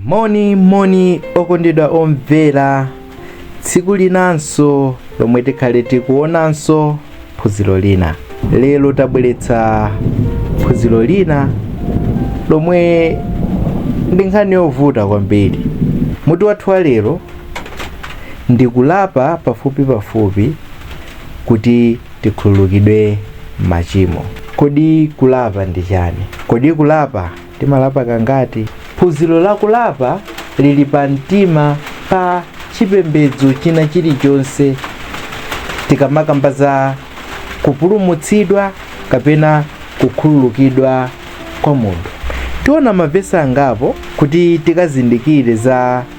moni moni okondedwa omvera tsiku linanso lomwe tikhale tikuonanso phunziro lina lero tabweretsa phunziro lina lomwe ndi nkhani yovuta kwambiri mutu wathu wa lero ndi kulapa pafupipafupi kuti tikhululukidwe machimo. Kodi kulapa ndi chani? Kodi kulapa timalapa kangati? Phunziro la kulapa lili pa mtima pa chipembedzo china chilichonse tikamakamba za kupulumutsidwa kapena kukhululukidwa kwa munthu. Tiona mavesi angapo kuti tikazindikire za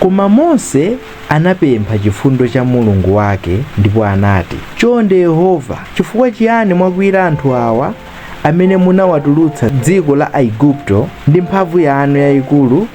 Koma Mose anapempha chifundo cha Mulungu wake ndipo anati, Chonde Yehova, chifukwa chiyani mwakwiyira anthu awa amene munawatulutsa m'dziko la Aigupto ndi mphamvu yanu yayikulu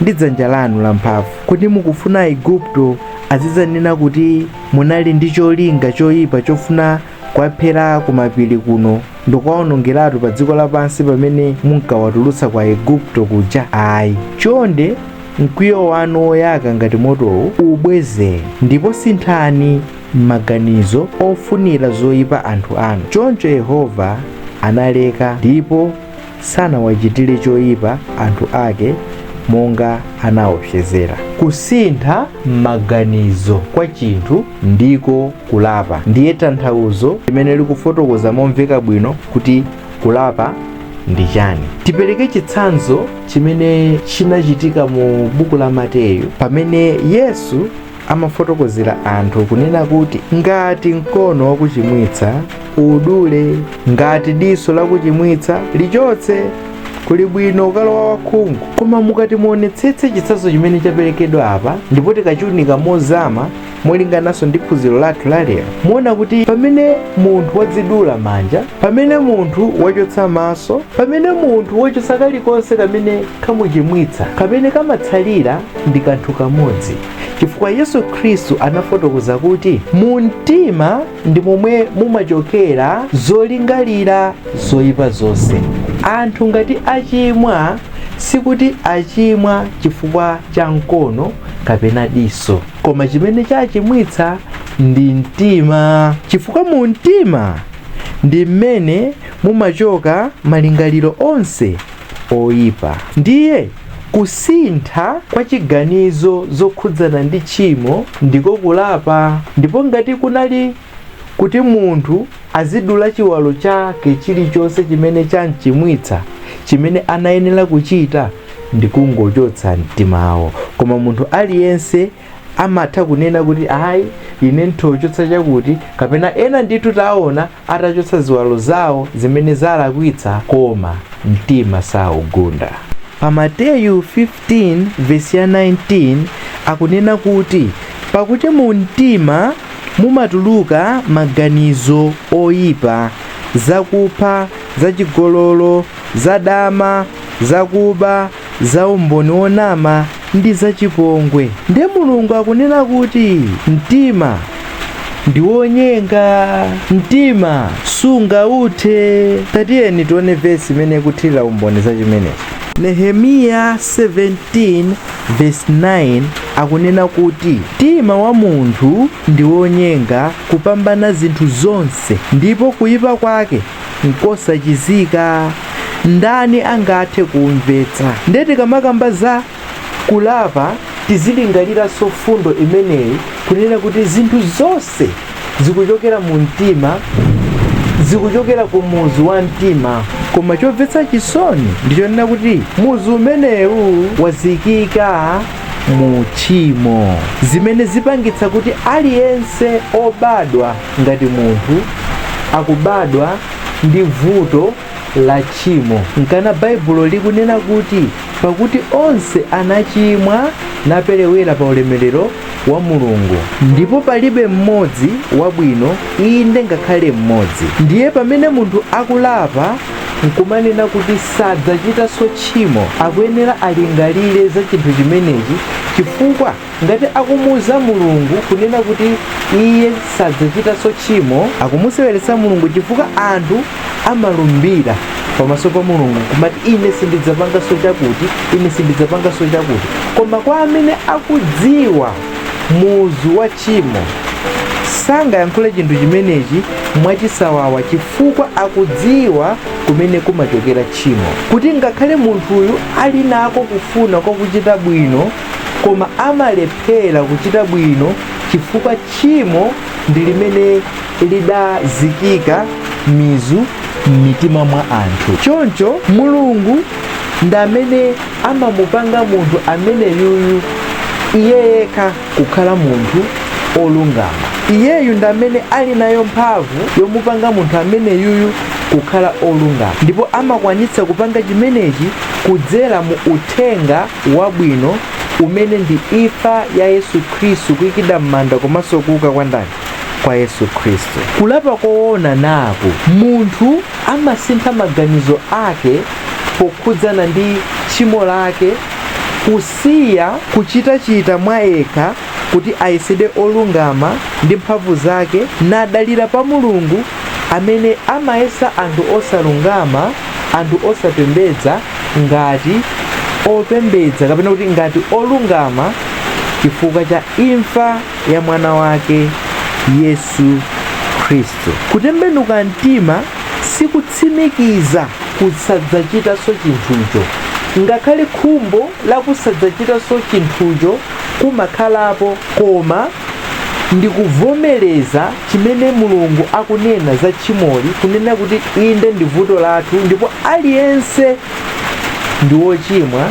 ndi dzanja lanu lamphamvu? Kodi mukufuna Aigupto azidzanena kuti munali ndi cholinga choyipa chofuna Kwaphera kumapiri kuno ndi kwaonongeratu pa dziko lapansi pamene munkawatulutsa kwa Aigupto kuja? Ayi, chonde mkwiyo wanu woyaka ngati motowu ubwezeni, ndipo sinthani maganizo ofunira zoipa anthu anu. Choncho Yehova analeka, ndipo sanawachitire choyipa anthu ake monga anaopsezera. Kusintha maganizo kwa chinthu ndiko kulapa. Ndiye tanthauzo limene likufotokoza momveka bwino kuti kulapa ndi chani. Tipereke chitsanzo chimene chinachitika mu buku la Mateyu pamene Yesu amafotokozera anthu kunena kuti ngati mkono wakuchimwitsa udule, ngati diso lakuchimwitsa lichotse. Kuli bwino ukalowa wakhungu. Koma mukati muonetsetse chitsanzo chimene chaperekedwa apa ndipo tikachiunika mozama molingananso ndi phunziro lathu la lero, muona kuti pamene munthu wadzidula manja, pamene munthu wachotsa maso, pamene munthu wachotsa kalikonse kamene kamuchimwitsa, kamene kamatsalira ndi kanthu kamodzi chifukwa yesu khristu anafotokoza kuti mu mtima ndi momwe mumachokera zolingalira zoyipa zonse anthu ngati achimwa sikuti achimwa chifukwa cha mkono kapena diso koma chimene chachimwitsa ndi mtima chifukwa mu mtima ndi mmene mumachoka malingaliro onse oyipa ndiye Kusintha kwa chiganizo zokhudzana ndi tchimo ndiko kulapa. Ndipo ngati kunali kuti munthu azidula chiwalo chake chilichonse chimene chamchimwitsa, chimene anayenera kuchita ndi kungochotsa mtimawo. Koma munthu aliyense amatha kunena kuti, Ayi, ine ndithochotsa chakuti, kapena ena ndithu taona atachotsa ziwalo zawo zimene zalakwitsa koma mtima saugunda. Pa Mateyu 15 vesi ya 19 akunena kuti pakuti mu mtima mumatuluka maganizo oyipa, zakupha, zachigololo, zadama, zakuba, za umboni wonama ndi za chipongwe. Nde Mulungu akunena kuti mtima ndi wonyenga, mtima sungauthe. Tatiyeni tione vesi imene ikuthirira umboni za chimenechi. Nehemiya 17 vesi 9 akunena kuti mtima wa munthu ndi wonyenga kupambana zinthu zonse, ndipo kuipa kwake nkosachizika ndani angathe kuumvetsa ndiye tikamakamba za kulapa tizilingaliranso fundo imeneyi kunena kuti zinthu zonse zikuchokera mu mtima zikuchokera ku muzu wa mtima koma chomvetsa chisoni ndichonena kuti muzu umenewu wazikika mu uchimo zimene zipangitsa kuti aliyense obadwa ngati munthu akubadwa ndi vuto la tchimo. Nkana Baibulo likunena kuti, Pakuti onse anachimwa naperewera pa ulemerero wa Mulungu, ndipo palibe mmodzi wabwino, inde ngakhale mmodzi. Ndiye pamene munthu akulapa n'kumanena kuti sadzachitanso tchimo, akuyenera alingalire za chinthu chimenechi chifukwa Ngati akumuwuza Mulungu kunena kuti iye sadzachitanso tchimo, akumuseweretsa Mulungu chifukwa anthu amalumbira pamaso pa Mulungu kumati ine sindidzapanganso chakuti, ine sindidzapanganso chakuti. Koma kwa amene akudziwa muzu wa tchimo, sangayankhule chinthu chimenechi mwachisawawa chifukwa akudziwa kumene kumachokera tchimo, kuti ngakhale munthuyu ali nako kufuna kwa kuchita bwino, koma amalephera kuchita bwino chifukwa tchimo ndi limene lidazikika mizu m'mitima mwa anthu choncho mulungu ndi amene amamupanga munthu ameneyuyu iye yekha kukhala munthu olungama iyeyu ndi amene ali nayo mphamvu yomupanga munthu ameneyuyu kukhala olungama ndipo amakwanitsa kupanga chimenechi kudzera mu uthenga wabwino umene ndi imfa ya Yesu Khristu, kuikidwa m'manda komanso kuuka kwa ndani? Kwa Yesu Khristu. Kulapa koona naku, munthu amasintha maganizo ake pokhudzana ndi tchimo lake, kusiya kuchitachita mwa yekha kuti ayesedwe olungama ndi mphamvu zake, nadalira pa Mulungu amene amayesa anthu osalungama, anthu osapembedza, ngati opembedza kapena kuti ngati olungama chifukwa cha imfa ya mwana wake Yesu Khristu. Kutembenuka mtima sikutsimikiza kusadzachitanso chinthucho. Ngakhale khumbo la kusadzachitanso chinthucho kumakhalapo koma ndi kuvomereza chimene Mulungu akunena za tchimoli, kunena kuti inde ndi vuto lathu ndipo aliyense ndi wochimwa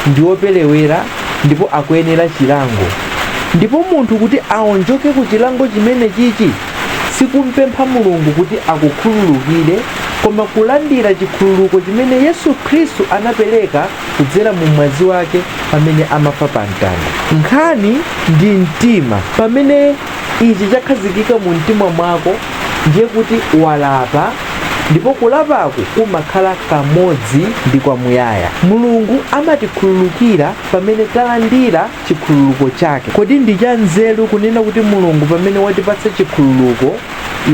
ndi woperewera ndipo akuyenera chilango ndipo munthu kuti aonjoke ku chilango chimene chichi sikumpempha mulungu kuti akukhululukire koma kulandira chikhululuko chimene yesu khristu anapereka kudzera mu mwazi wake pamene amafa pa mtanda nkhani ndi mtima pamene ichi chakhazikika mu mtima mwako ndiye kuti walapa ndipo kulapaku kumakhala kamodzi ndi kwamuyaya mulungu amatikhululukira pamene talandira chikhululuko chake kodi ndi cha nzeru kunena kuti mulungu pamene watipatsa chikhululuko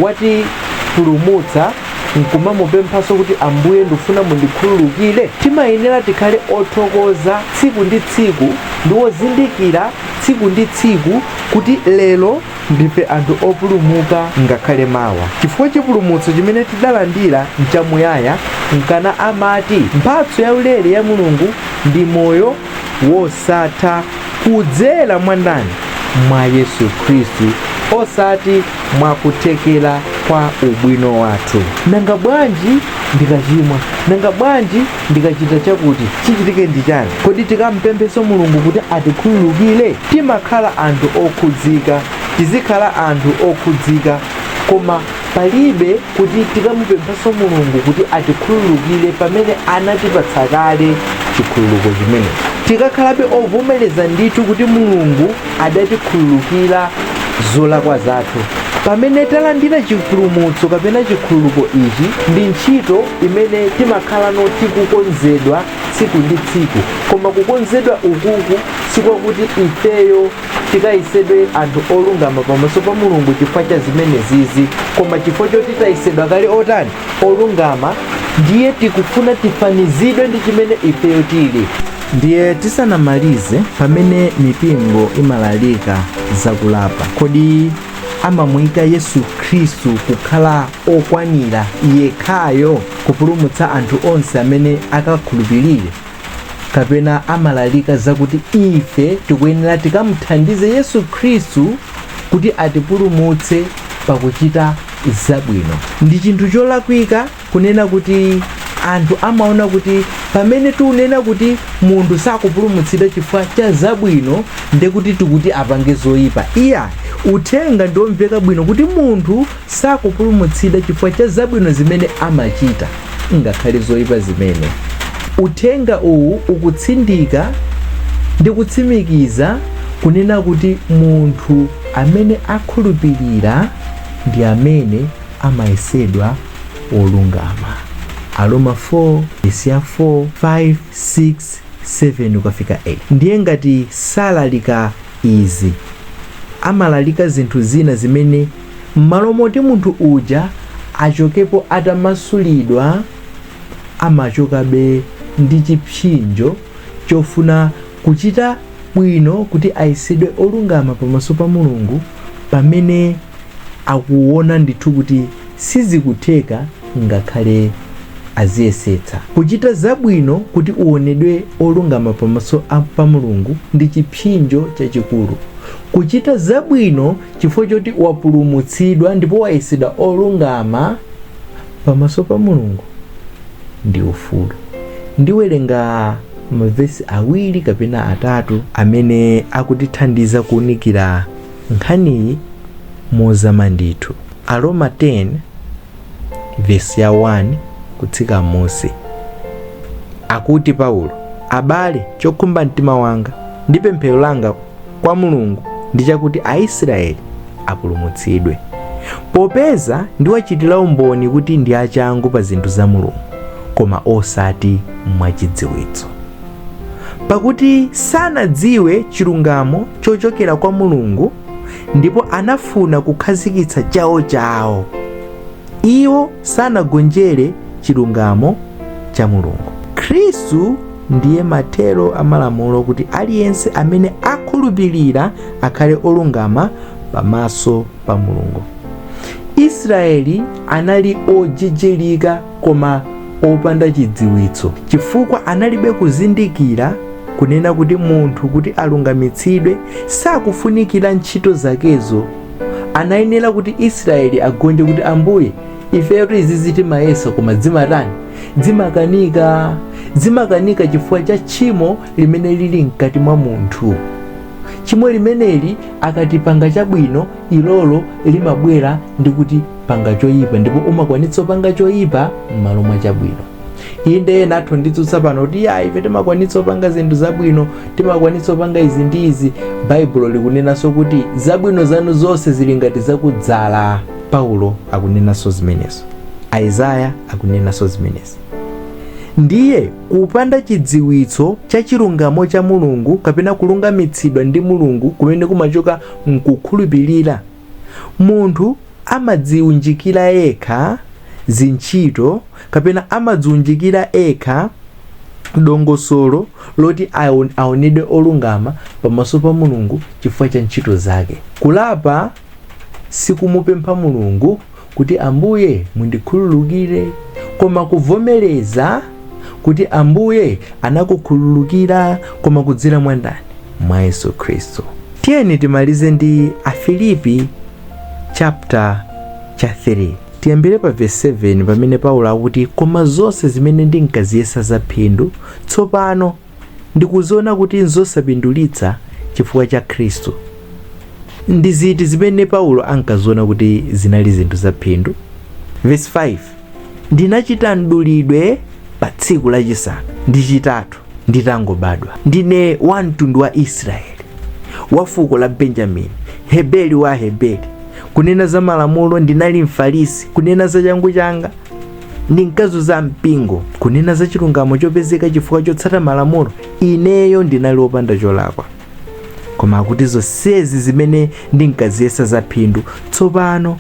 watipulumutsa nkumamupemphanso kuti Ambuye ndifuna mundikhululukire, timayenera tikhale othokoza tsiku ndi tsiku ndi ozindikira tsiku ndi tsiku kuti lero ndife anthu opulumuka ngakhale mawa chifukwa chipulumutso chimene tidalandira nchamuyaya, nkana amati mphatso yaulere ya Mulungu ndi moyo. wosatha kudzera mwa ndani? Mwa Yesu Khristu, osati mwa kuthekera kwa ubwino wathu. Nanga bwanji ndikachimwa? Nanga bwanji ndikachita chakuti? Chichitike ndi chani? Kodi tikampemphenso Mulungu kuti atikhululukire? Timakhala anthu okhudzika, tizikhala anthu okhudzika koma Palibe kuti tikamupemphanso Mulungu kuti atikhululukire pamene anatipatsa kale chikhululuko chimenecho. Tikakhalabe ovomereza ndithu kuti Mulungu adatikhululukira zolakwa zathu pamene talandira chipulumutso kapena chikhululuko ichi ndi ntchito imene timakhalano tikukonzedwa tsiku ndi tsiku koma kukonzedwa ukuku sikwakuti ifeyo tikayesedwe anthu olungama pamaso pa mulungu chifukwa cha zimenezizi koma chifukwa choti tayesedwa kale otani olungama ndiye tikufuna tifanizidwe ndi chimene ifeyo tili ndiye tisanamalize pamene mipingo imalalika zakulapa kodi amamuyika yesu khristu kukhala okwanira yekhayo kupulumutsa anthu onse amene akakhulupirire kapena amalalika zakuti ife tikuyenera tikamuthandize yesu khristu kuti atipulumutse pakuchita zabwino ndi chinthu cholakwika kunena kuti anthu amaona kuti pamene tikunena kuti munthu sakupulumutsidwa chifukwa cha zabwino ndekuti tikuti apange zoyipa iyayi uthenga ndiomveka bwino kuti munthu Sakupulumutsidwa chifukwa cha zabwino zimene amachita ngakhale zoipa zimene. Uthenga uwu ukutsindika ndi kutsimikiza kunena kuti munthu amene akhulupilira ndi amene amayesedwa wolungama. Aroma 4, verse 4, 5, 6, 7-8. Ndiye ngati salalika izi, amalalika zinthu zina zimene M'malo moti munthu uja achokepo atamasulidwa, amachokabe ndi chipsinjo chofuna kuchita bwino kuti ayesedwe olungama pamaso pa Mulungu pamene akuona ndithu kuti sizikutheka ngakhale aziyesetsa. Kuchita zabwino kuti uonedwe olungama pamaso pa Mulungu ndi chipsinjo chachikulu. Kuchita zabwino chifukwa choti wapulumutsidwa ndipo wayesedwa olungama pamaso pa mulungu ndi ufulu ndiwerenga mavesi awiri kapena atatu amene akutithandiza kuunikira nkhaniyi mozama ndithu aroma 10 verse 1 kutsika m'munsi akuti paulo abale chokhumba mtima wanga ndi pemphero langa kwa mulungu ndi chakuti aisraeli apulumutsidwe popeza ndikuwachitira umboni kuti ndi achangu pa zinthu za mulungu koma osati mwachidziwitso pakuti sanadziwe chilungamo chochokera kwa mulungu ndipo anafuna kukhazikitsa chawo chawo iwo sanagonjere chilungamo cha mulungu khristu ndiye mathero a malamulo kuti aliyense amene akhulupirira akhale olungama pamaso pa mulungu israeli anali ojijirika koma opanda chidziwitso chifukwa analibe kuzindikira kunena kuti munthu kuti alungamitsidwe sakufunikira ntchito zakezo anayenera kuti israeli agonje kuti ambuye ifeyo izizi timayesa koma zimatani zimakanika zimakanika chifukwa cha tchimo limene lili mkati mwa munthu tchimo limeneli ukati upange chabwino ilolo limabwera ndi kuti panga choyipa ndipo umakwanitsa kupanga choyipa m'malo mwa chabwino inde ena atha kunditsutsa pano kuti ya ife timakwanitsa kupanga zinthu zabwino timakwanitsa kupanga izi ndi izi baibulo likunenanso kuti zabwino zanu zonse zili ngati za kudzala Paulo akunenanso zimenezo. Isaiah akunenanso zimenezo. Ndiye kupanda chidziwitso cha chilungamo cha Mulungu kapena kulungamitsidwa ndi Mulungu kumene kumachoka m'kukhulupirira, munthu amadziunjikira yekha zintchito kapena amadziunjikira ekha dongosolo loti aonedwe olungama pamaso pa Mulungu chifukwa cha ntchito zake. Kulapa sikumupempha Mulungu kuti Ambuye mundikhululukire, koma kuvomereza kuti Ambuye anakukhululukira koma kudzera mwa ndani? Mwa Yesu Khristu. Tiyeni timalize ndi Afilipi chaputala cha 3 tiyambire pa verse 7 pamene Paulo akuti koma zonse zimene ndinkaziyesa zaphindu tsopano ndikuziona kuti n'zosapindulitsa chifukwa cha Khristu. Ndi ziti zimene Paulo ankaziona kuti zinali zinthu zaphindu? Verse 5 Ndinachita mdulidwe pa tsiku lachisanu ndi chitatu nditangobadwa. Ndine wa mtundu wa Israeli, wa fuko la Benjamini, Mheberi wa Aheberi. Kunena za malamulo ndinali Mfarisi, kunena za changu changa ndinkazunza mpingo kunena za chilungamo chopezeka chifukwa chotsata malamulo ineyo ndinali wopanda cholakwa koma akuti zonsezi zimene ndinkaziyesa za phindu tsopano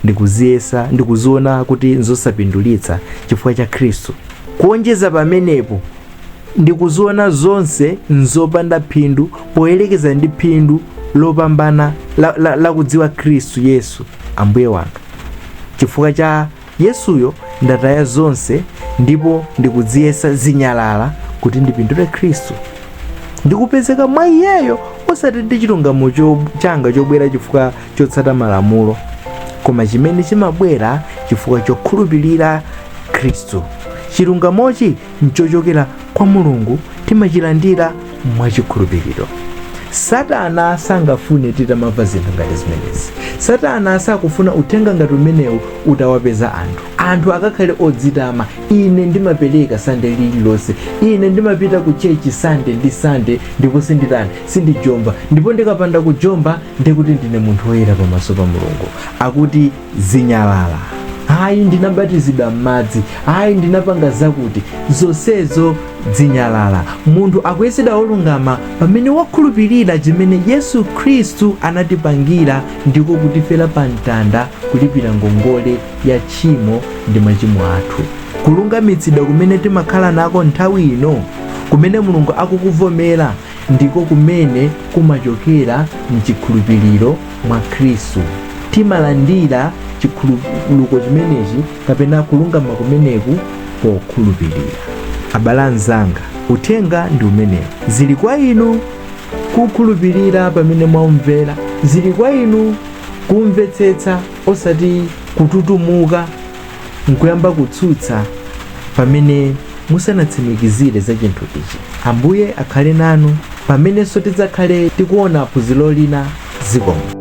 ndikuziyesa ndikuziona kuti nzosapindulitsa chifukwa cha khristu kuonjeza pamenepo ndikuziona zonse nzopanda phindu poyerekeza ndi phindu lopambana la, la, la kudziwa khristu yesu ambuye wanga chifukwa cha Yesuyo ndataya zonse ndipo ndikuziyesa zinyalala kuti ndipindule Khristu. Ndikupezeka mwa Iyeyo osati ndi chilungamo cho- changa chobwera chifukwa chotsata malamulo, koma chimene chimabwera chifukwa chokhulupirira Khristu. Chilungamochi nchochokera kwa mulungu timachilandira mwachikhulupiriro satana sangafune titamamva zinthu ngati zimenezi satana sakufuna uthenga ngati umenewu utawapeza anthu anthu akakhale odzitama ine ndimapereka sande lililonse ine ndimapita ku chechi sande ndi sande ndipo sinditani sindijomba ndipo ndikapanda kujomba ndikuti ndine munthu woyera pamaso pa mulungu akuti zinyalala ayi ndinabatizidwa m'madzi ayi ndinapanga zakuti zonsezo zinyalala munthu akuyesedwa wolungama pamene wakhulupirira chimene yesu khristu anatipangira ndiko kutifera pa mtanda kulipira ngongole ya tchimo ndi machimo athu kulungamitsidwa kumene timakhala nako nthawi ino kumene mulungu akukuvomera ndiko kumene kumachokera mchikhulupiriro mwa khristu timalandira chikhululuko chimenechi kapena kulungama kumeneku pokhulupirira abale anzanga uthenga ndi umenewu zili kwa inu kukhulupirira pamene mwaumvera zili kwa inu kumvetsetsa osati kututumuka nkuyamba kutsutsa pamene musanatsimikizire za chinthu ichi ambuye akhale nanu pamenenso tidzakhale tikuona phunziro lina zikomo